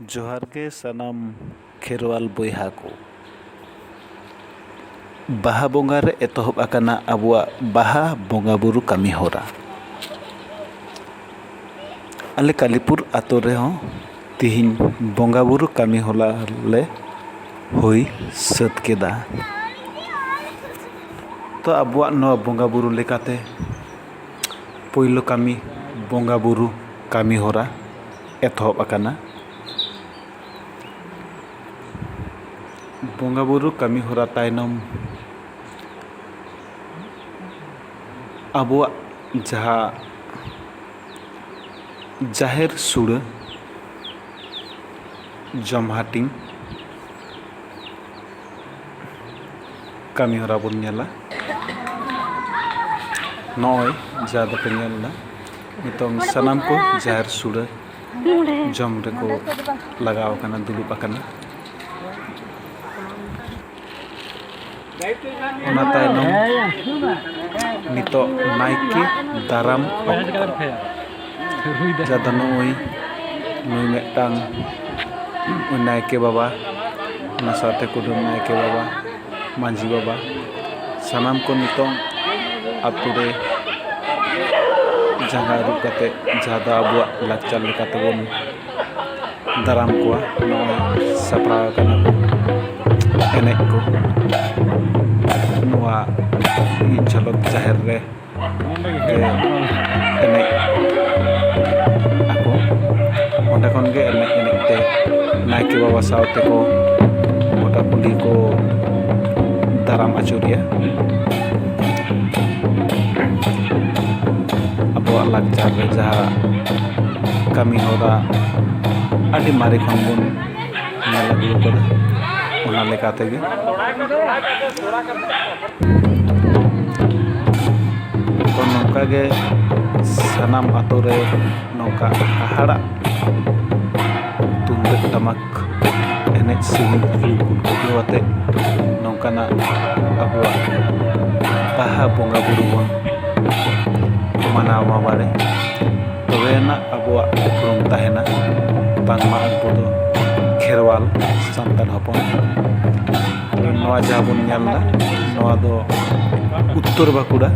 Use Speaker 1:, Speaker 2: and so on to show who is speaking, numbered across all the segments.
Speaker 1: ᱡᱚᱦᱟᱨ ᱜᱮ ᱥᱟᱱᱟᱢ ᱠᱷᱮᱨᱣᱟᱞ ᱵᱚᱭᱦᱟ ᱠᱚ ᱵᱟᱦᱟ ᱵᱚᱸᱜᱟ ᱨᱮ ᱮᱛᱚᱦᱚᱵ ᱟᱠᱟᱱᱟ ᱟᱵᱚᱣᱟᱜ ᱵᱟᱦᱟ ᱵᱚᱸᱜᱟ ᱵᱩᱨᱩ ᱠᱟᱹᱢᱤ ᱦᱚᱨᱟ ᱟᱞᱮ ᱠᱟᱞᱤᱯᱩᱨ ᱟᱛᱳ ᱨᱮᱦᱚᱸ ᱛᱤᱦᱤᱧ ᱵᱚᱸᱜᱟ ᱵᱩᱨᱩ ᱠᱟᱹᱢᱤ ᱦᱚᱨᱟ ᱞᱮ ᱦᱩᱭ ᱥᱟᱹᱛ ᱠᱮᱫᱟ ᱛᱚ ᱟᱵᱚᱣᱟᱜ ᱱᱚᱣᱟ ᱵᱚᱸᱜᱟ ᱵᱩᱨᱩ ᱞᱮᱠᱟᱛᱮ ᱯᱳᱭᱞᱳ ᱠᱟᱹᱢᱤ ᱵᱚᱸᱜᱟ ᱵᱳᱨᱳ ᱠᱟᱹᱢᱤ ᱦᱚᱨᱟ ᱮᱛᱚᱦᱚᱵ ᱟᱠᱟᱱᱟ ᱵᱚᱸᱜᱟ ᱵᱳᱨᱳ ᱠᱟᱹᱢᱤ ᱦᱚᱨᱟ ᱛᱟᱭᱱᱚᱢ ᱟᱵᱚᱣᱟᱜ ᱡᱟᱦᱟᱸ ᱡᱟᱦᱮᱨ ᱥᱩᱲᱟᱹ ᱡᱚᱢ ᱦᱟᱹᱴᱤᱧ ᱠᱟᱹᱢᱤ ᱦᱚᱨᱟ ᱵᱚᱱ ᱧᱮᱞᱟ ᱱᱚᱜᱼᱚᱭ ᱡᱟᱦᱟᱸ ᱫᱚᱯᱮ ᱧᱮᱞ ᱮᱫᱟ ᱱᱤᱛᱚᱝ ᱥᱟᱱᱟᱢ ᱠᱚ ᱡᱟᱦᱮᱨ ᱥᱩᱲᱟᱹ ᱡᱚᱢ ᱨᱮᱠᱚ ᱞᱟᱜᱟᱣ ᱟᱠᱟᱱᱟ ᱫᱩᱲᱩᱵ ᱟᱠᱟᱱᱟ ᱚᱱᱟ ᱛᱟᱭᱱᱚᱢ ᱱᱤᱛᱚᱜ ᱱᱟᱭᱠᱮ ᱫᱟᱨᱟᱢ ᱚᱠᱛᱚ ᱡᱟᱫᱚ ᱱᱩᱜᱼᱩᱭ ᱱᱩᱭ ᱢᱤᱫᱴᱟᱝ ᱱᱟᱭᱠᱮ ᱵᱟᱵᱟ ᱚᱱᱟ ᱥᱟᱶᱛᱮ ᱠᱩᱰᱟᱹᱢ ᱱᱟᱭᱠᱮ ᱵᱟᱵᱟ ᱢᱟᱺᱡᱷᱤ ᱵᱟᱵᱟ ᱥᱟᱱᱟᱢ ᱠᱚ ᱱᱤᱛᱚᱝ ᱟᱛᱳ ᱨᱮ ᱡᱟᱸᱜᱟ ᱟᱹᱨᱩᱵ ᱠᱟᱛᱮ ᱡᱟᱦᱟᱸ ᱫᱚ ᱟᱵᱚᱣᱟᱜ ᱞᱟᱠᱪᱟᱨ ᱞᱮᱠᱟ ᱛᱮᱵᱚᱱ ᱫᱟᱨᱟᱢ ᱠᱚᱣᱟ ᱱᱚᱜᱼᱚᱭ ᱥᱟᱯᱲᱟᱣ ᱠᱟᱱᱟ ᱠᱚ ᱮᱱᱮᱡ ᱠᱚ ᱱᱚᱣᱟ ᱡᱷᱚᱞᱚᱠ ᱡᱟᱦᱮᱨ ᱨᱮ ᱮᱱᱮᱡ ᱟᱠᱚ ᱚᱸᱰᱮ ᱠᱷᱚᱱ ᱜᱮ ᱮᱱᱮᱡ ᱮᱱᱮᱡ ᱛᱮ ᱱᱟᱭᱠᱮ ᱵᱟᱵᱟ ᱥᱟᱶ ᱛᱮᱠᱚ ᱜᱚᱴᱟ ᱠᱩᱞᱦᱤ ᱠᱚ ᱫᱟᱨᱟᱢ ᱟᱹᱪᱩᱨᱮᱭᱟ ᱟᱵᱚᱣᱟᱜ ᱞᱟᱠᱪᱟᱨ ᱨᱮ ᱡᱟᱦᱟᱸ ᱠᱟᱹᱢᱤ ᱦᱚᱨᱟ ᱟᱹᱰᱤ ᱢᱟᱨᱮ ᱠᱷᱚᱱ ᱵᱚᱱ ᱧᱮᱞ ᱟᱹᱜᱩ ᱟᱠᱟᱫᱟ ᱚᱱᱟ ᱞᱮᱠᱟ ᱛᱮᱜᱮ ᱛᱚ ᱱᱚᱝᱠᱟ ᱜᱮ ᱥᱟᱱᱟᱢ ᱟᱛᱳ ᱨᱮ ᱱᱚᱝᱠᱟ ᱦᱟᱦᱟᱲᱟᱜ ᱛᱩᱢᱫᱟᱹᱜ ᱴᱟᱢᱟᱠ ᱮᱱᱮᱡ ᱥᱮᱨᱮᱧ ᱨᱩ ᱜᱩᱰᱨᱟᱹ ᱟᱛᱮ ᱱᱚᱝᱠᱟᱱᱟᱜ ᱟᱵᱚᱣᱟᱜ ᱵᱟᱦᱟ ᱵᱚᱸᱜᱟ ᱵᱳᱨᱳ ᱵᱚᱱ ᱢᱟᱱᱟᱣ ᱢᱟ ᱵᱟᱲᱮ ᱛᱚᱵᱮ ᱟᱱᱟᱜ ᱟᱵᱚᱣᱟᱜ ᱩᱯᱨᱩᱢ ᱛᱟᱦᱮᱱᱟ ᱵᱟᱝᱢᱟ ᱟᱵᱚ ᱫᱚ ᱠᱷᱮᱨᱣᱟᱞ ᱥᱟᱱᱛᱟᱲ ᱦᱚᱯᱚᱱ ᱱᱚᱣᱟ ᱡᱟᱦᱟᱸ ᱵᱚᱱ ᱧᱮᱞ ᱮᱫᱟ ᱱᱚᱣᱟ ᱫᱚ ᱩᱛᱛᱚᱨ ᱵᱟᱸᱠᱩᱲᱟ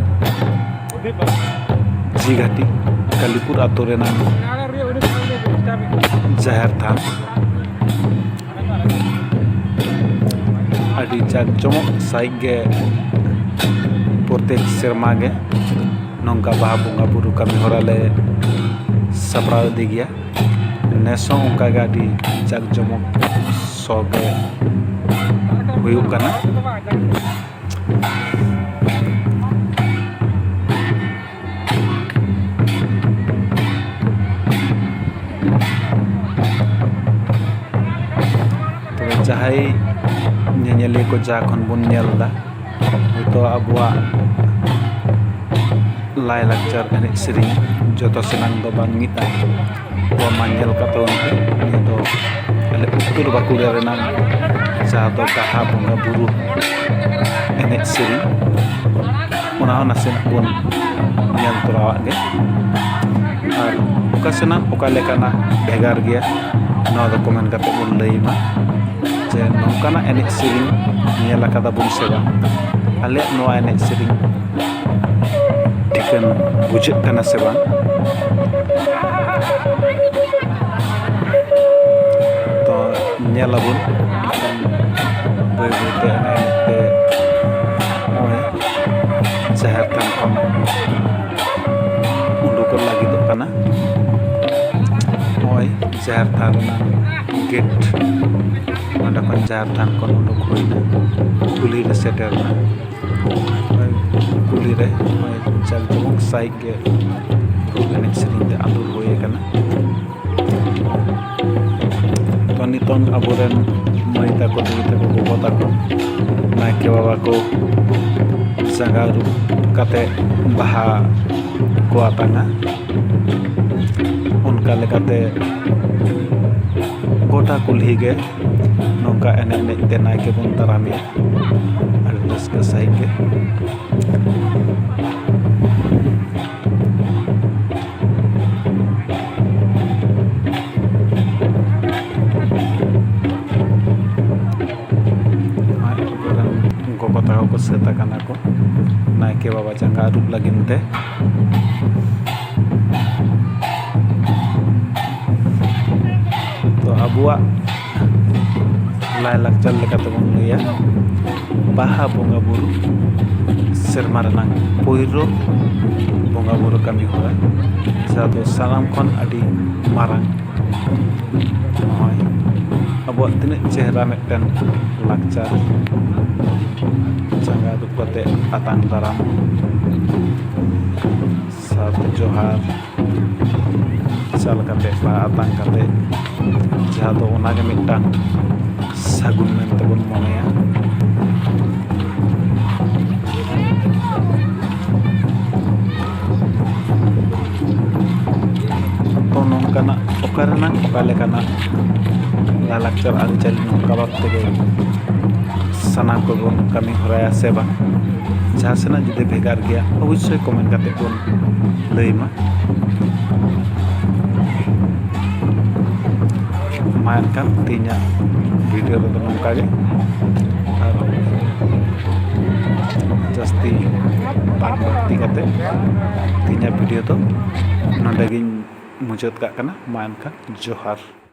Speaker 1: ᱡᱷᱤᱜᱷᱟᱴᱤ ᱠᱟᱞᱤᱯᱩᱨ ᱟᱛᱳ ᱨᱮᱱᱟᱜ ᱡᱟᱦᱮᱨ ᱛᱷᱟᱱ ᱟᱹᱰᱤ ᱡᱟᱠ ᱡᱚᱢᱚᱠ ᱥᱟᱺᱦᱤᱡ ᱜᱮ ᱯᱨᱚᱛᱮᱠ ᱥᱮᱨᱢᱟ ᱜᱮ ᱱᱚᱝᱠᱟ ᱵᱟᱦᱟ ᱵᱚᱸᱜᱟ ᱵᱩᱨᱩ ᱠᱟᱹᱢᱤ ᱦᱚᱨᱟ ᱞᱮ ᱥᱟᱯᱲᱟᱣ ᱤᱫᱤ ᱜᱮᱭᱟ ᱱᱮᱥ ᱦᱚᱸ ᱚᱱᱠᱟᱜᱮ ᱟᱹᱰᱤ ᱡᱟᱠ ᱡᱚᱢᱚᱠ ᱥᱚ ᱜᱮ ᱦᱩᱭᱩᱜ ᱠᱟᱱᱟ ᱡᱟᱦᱟᱸᱭ ᱧᱮᱧᱮᱞᱤᱭᱟᱹ ᱠᱚ ᱡᱟ ᱠᱷᱚᱱ ᱵᱚᱱ ᱧᱮᱞ ᱮᱫᱟ ᱦᱚᱭᱛᱳ ᱟᱵᱚᱣᱟᱜ ᱞᱟᱭᱼᱞᱟᱠᱪᱟᱨ ᱮᱱᱮᱡ ᱥᱮᱨᱮᱧ ᱡᱚᱛᱚ ᱥᱟᱱᱟᱢ ᱫᱚ ᱵᱟᱝ ᱢᱤᱫᱼᱟ ᱚᱱᱟ ᱧᱮᱞ ᱠᱟᱛᱮ ᱩᱱᱤ ᱫᱚ ᱟᱞᱮ ᱩᱛᱛᱚᱨ ᱵᱟᱸᱠᱩᱲᱟ ᱨᱮᱱᱟᱝ ᱡᱟᱦᱟᱸ ᱫᱚ ᱵᱟᱦᱟ ᱵᱚᱸᱜᱟ ᱵᱳᱨᱳ ᱮᱱᱮᱡ ᱥᱮᱨᱮᱧ ᱚᱱᱟ ᱦᱚᱸ ᱱᱟᱥᱮᱱᱟᱜ ᱵᱚᱱ ᱧᱮᱞ ᱛᱚᱨᱟᱣᱟᱜ ᱜᱮ ᱟᱨ ᱚᱠᱟ ᱥᱮᱱᱟᱜ ᱚᱠᱟ ᱞᱮᱠᱟᱱᱟ ᱵᱷᱮᱜᱟᱨ ᱜᱮᱭᱟ ᱱᱚᱣᱟ ᱫᱚ ᱠᱚᱢᱮᱱᱴ ᱠᱟᱛᱮ ᱵᱚᱱ ᱞᱟᱹᱭ ᱢᱟ ᱡᱮ ᱱᱚᱝᱠᱟᱱᱟᱜ ᱮᱱᱮᱡ ᱥᱮᱨᱮᱧ ᱧᱮᱞ ᱠᱟᱫᱟ ᱵᱚᱱ ᱥᱮ ᱵᱟᱝ ᱟᱞᱮᱭᱟᱜ ᱱᱚᱣᱟ ᱮᱱᱮᱡ ᱥᱮᱨᱮᱧ ᱴᱷᱤᱠᱟᱹᱱ ᱵᱩᱡᱷᱟᱹᱜ ᱠᱟᱱᱟ ᱥᱮ ᱵᱟᱝ ᱛᱚ ᱧᱮᱞ ᱟᱵᱚᱱ ᱵᱟᱹᱭ ᱵᱟᱹᱭᱛᱮ ᱮᱱᱮᱡ ᱡᱟᱦᱮᱨ ᱛᱷᱟᱱ ᱠᱷᱚᱱ ᱩᱰᱩᱠᱚᱜ ᱞᱟᱹᱜᱤᱫᱚᱜ ᱠᱟᱱᱟ ᱱᱚᱜᱼᱚᱭ ᱡᱟᱦᱮᱨ ᱛᱷᱟᱱ ᱜᱮᱴ ᱱᱚᱰᱮ ᱠᱷᱚᱱ ᱡᱟᱦᱮᱨ ᱛᱷᱟᱱ ᱠᱷᱚᱱ ᱩᱰᱩᱠ ᱦᱩᱭᱱᱟ ᱠᱩᱞᱦᱤ ᱨᱮ ᱥᱮᱴᱮᱨᱱᱟ ᱠᱩᱞᱦᱤ ᱨᱮ ᱱᱚᱜᱼᱚᱭ ᱡᱟᱠ ᱡᱚᱢᱚᱠ ᱥᱟᱺᱦᱤᱡ ᱜᱮ ᱯᱷᱩᱞ ᱮᱱᱮᱡ ᱥᱮᱨᱮᱧ ᱛᱮ ᱟᱸᱫᱳᱲ ᱦᱩᱭ ᱟᱠᱟᱱᱟ ᱛᱚ ᱱᱤᱛᱚᱝ ᱟᱵᱚᱨᱮᱱ ᱢᱟᱹᱭ ᱛᱟᱠᱚ ᱫᱤᱫᱤ ᱛᱟᱠᱚ ᱜᱚᱜᱚ ᱛᱟᱠᱚ ᱱᱟᱭᱠᱮ ᱵᱟᱵᱟ ᱠᱚ ᱡᱟᱸᱜᱟ ᱟᱹᱨᱩᱵ ᱠᱟᱛᱮ ᱵᱟᱦᱟ ᱠᱚ ᱟᱛᱟᱝᱟ ᱚᱱᱠᱟ ᱞᱮᱠᱟᱛᱮ ᱜᱚᱴᱟ ᱠᱩᱞᱦᱤ ᱜᱮ ᱱᱚᱝᱠᱟ ᱮᱱᱮᱡ ᱮᱱᱮᱡ ᱛᱮ ᱱᱟᱭᱠᱮ ᱵᱚᱱ ᱫᱟᱨᱟᱢᱮᱭᱟ ᱟᱹᱰᱤ ᱨᱟᱹᱥᱠᱟᱹ ᱥᱟᱺᱦᱤᱡ ᱜᱮ ᱜᱚᱜᱚ ᱛᱟᱠᱚ ᱠᱚ ᱥᱟᱹᱛ ᱟᱠᱟᱱᱟ ᱠᱚ ᱱᱟᱭᱠᱮ ᱵᱟᱵᱟ ᱡᱟᱸᱜᱟ ᱟᱹᱨᱩᱵ ᱞᱟᱹᱜᱤᱫ ᱛᱮ ᱛᱚ ᱟᱵᱚᱣᱟᱜ ᱞᱟᱭᱼᱞᱟᱠᱪᱟᱨ ᱞᱮᱠᱟᱛᱮᱵᱚᱱ ᱞᱟᱹᱭᱟ ᱵᱟᱦᱟ ᱵᱚᱸᱜᱟ ᱵᱩᱨᱩ ᱥᱮᱨᱢᱟ ᱨᱮᱱᱟᱝ ᱯᱳᱭᱞᱳ ᱵᱚᱸᱜᱟ ᱵᱩᱨᱩ ᱠᱟᱹᱢᱤ ᱦᱚᱨᱟ ᱡᱟᱦᱟᱸ ᱫᱚ ᱥᱟᱱᱟᱢ ᱠᱷᱚᱱ ᱟᱹᱰᱤ ᱢᱟᱨᱟᱝ ᱱᱚᱜᱼᱚᱭ ᱟᱵᱚᱣᱟᱜ ᱛᱤᱱᱟᱹᱜ ᱪᱮᱦᱨᱟ ᱢᱤᱫᱴᱮᱱ ᱞᱟᱠᱪᱟᱨ ᱡᱟᱸᱜᱟ ᱟᱹᱨᱩᱵ ᱠᱟᱛᱮᱫ ᱟᱛᱟᱝ ᱫᱟᱨᱟᱢ ᱥᱟᱨ ᱡᱚᱦᱟᱨ ᱪᱟᱞ ᱠᱟᱛᱮ ᱵᱟ ᱟᱛᱟᱝ ᱠᱟᱛᱮ ᱡᱟᱦᱟᱸ ᱫᱚ ᱚᱱᱟᱜᱮ ᱢᱤᱫᱴᱟᱝ ᱥᱟᱹᱜᱩᱱ ᱢᱮᱱᱛᱮ ᱵᱚᱱ ᱢᱚᱱᱮᱭᱟ ᱛᱚ ᱱᱚᱝᱠᱟᱱᱟᱜ ᱚᱠᱟ ᱨᱮᱱᱟᱜ ᱚᱠᱟ ᱞᱮᱠᱟᱱᱟᱜ ᱞᱟᱭᱼᱞᱟᱠᱪᱟᱨ ᱟᱹᱨᱤᱪᱟᱹᱞᱤ ᱱᱚᱝᱠᱟ ᱵᱷᱟᱵᱽ ᱛᱮᱜᱮ ᱥᱟᱱᱟᱢ ᱠᱚᱵᱚᱱ ᱠᱟᱹᱢᱤ ᱦᱚᱨᱟᱭᱟ ᱥᱮ ᱵᱟᱝ ᱡᱟᱦᱟᱸ ᱥᱮᱱᱟᱜ ᱡᱩᱫᱤ ᱵᱷᱮᱜᱟᱨ ᱜᱮᱭᱟ ᱚᱵᱚᱥᱥᱳᱭ ᱠᱚᱢᱮᱱᱴ ᱠᱟᱛᱮᱫ ᱵᱚᱱ ᱞᱟᱹᱭ ᱢᱟ ᱢᱟ ᱮᱱᱠᱷᱟᱱ ᱛᱮᱦᱮᱧᱟᱜ ᱵᱷᱤᱰᱤᱭᱳ ᱨᱮᱫᱚ ᱱᱚᱝᱠᱟ ᱜᱮ ᱟᱨ ᱡᱟᱹᱥᱛᱤ ᱵᱟᱝ ᱵᱟᱹᱲᱛᱤ ᱠᱟᱛᱮᱫ ᱛᱮᱦᱮᱧᱟᱜ ᱵᱷᱤᱰᱤᱭᱳ ᱫᱚ ᱱᱚᱰᱮ ᱜᱤᱧ ᱢᱩᱪᱟᱹᱫ ᱠᱟᱜ ᱠᱟᱱᱟ ᱢᱟ ᱮᱱᱠᱷᱟᱱ ᱡᱚᱦᱟᱨ